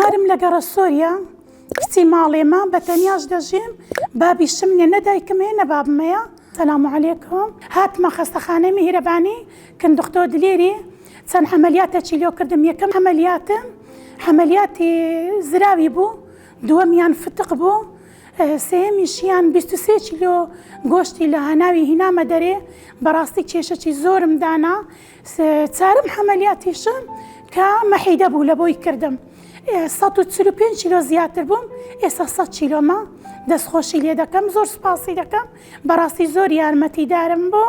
خارم لە گەڕە سۆریا کچی ماڵێمە بە تەنیاش دەژێم بابی شم نیە نە دایکم هەیە نە بابمەیە سلام علیکم هاتمە خەستەخانەی میهرەبانی کن دختۆ دلێری چەند عملیاتەکی لۆ کردم یەکەم عملیاتم عملیاتی زراوی بوو دووەمیان فتق بوو سێمیشیان 23 کیلۆ گۆشتی لە هەناوی هینامە دەرێ بەڕاستی کێشەی زۆرم دانا چارم حەمەلیاتی شم کە مەحیدە بوو لە بۆی کردم 145 کیلۆ زیاتر بووم ئێستا 100 کیلۆمە دەستخۆشی لێ دەکەم زۆر سپاسی دەکەم بەڕاستی زۆر یارمەتیدارم بۆ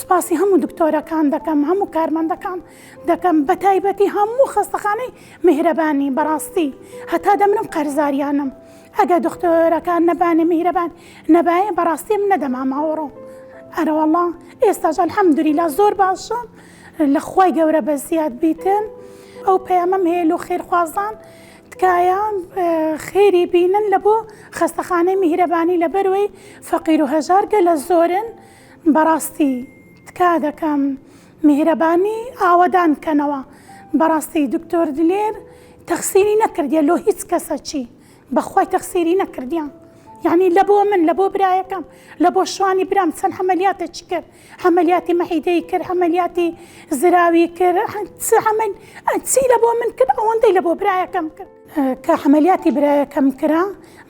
سپاسی هەموو دکتۆرەکان دەکەم هەموو کارمەندەکان دەکەم بە تایبەتی هەموو خەستەخانەی میهرەبانی بەڕاستی هەتا دەمرم قەرزاریانم ئەگە دکتۆرەکان نەبانێ میهرەبان نەبایە بەڕاستی ئەم نەدەماماوەڕۆ ئەرەوەڵا ئێستاش الحمدللە زۆر باشە لە خوای گەورە بە زیاد بیتن ئەو پەیامەم هەیە لۆ خێرخوازان تکایە خێری بینن لە بۆ خەستەخانەی میهرەبانی لە بەروەی فەقیر و هەژارگە لە زۆرن بەڕاستی تکا دەکەم میهرەبانی ئاوەدان کەنەوە بەڕاستی دکتۆر دلێر تەخسیری نەکردە لۆ هیچ کەسە چی بەخوای تەخسیری نەکردیان یعنی لە بۆ من لە بۆ برایەکەم لە بۆ شوانی برام چەند حملیاتێکی کرد حملیاتی مەحیدەی کرد حملیاتی زراوی کرد حمل چی لە بۆ من کرد ئەوەندەی لە بۆ برایەکەم کرد کە حملیاتی برایەکەم کرا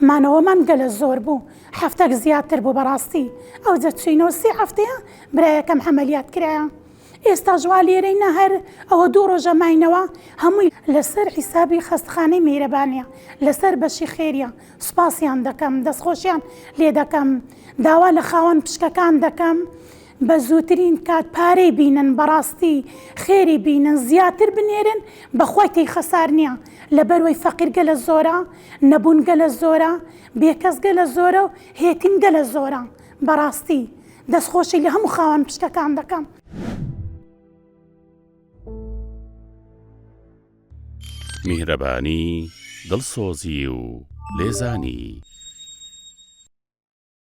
مانەوەمان گەلە زۆر بوو هەفتەک زیاتر بوو بەڕاستی ئەو جەچینەوە سی هەفتەیە برایەکەم حملیات کرایە ئێستاش وا لێرەینە هەر ئەوە دوو ڕۆژە ماینەوە هەمووی لەسەر حیسابی خەستخانەی میرەبانە لەسەر بەشی خێریە سوپاسیان دەکەم دەستخۆشیان لێ دەکەم داوا لە خاوەن پشکەکان دەکەم بە زووترین کات پارەی بینن بەڕاستی خێری بینن زیاتر بنێرن بەخوای تی خەسار نییە لە بەروەی فەقیرگە لە زۆرە نەبوونگە لە زۆرە بێکەسگە لە زۆرە و هێتیمگە لە زۆرە بەڕاستی دەست خۆشی لە هەموو خاوەن پشکەکان دەکەم. میهرەبانی، دڵسۆزی و لێزانی.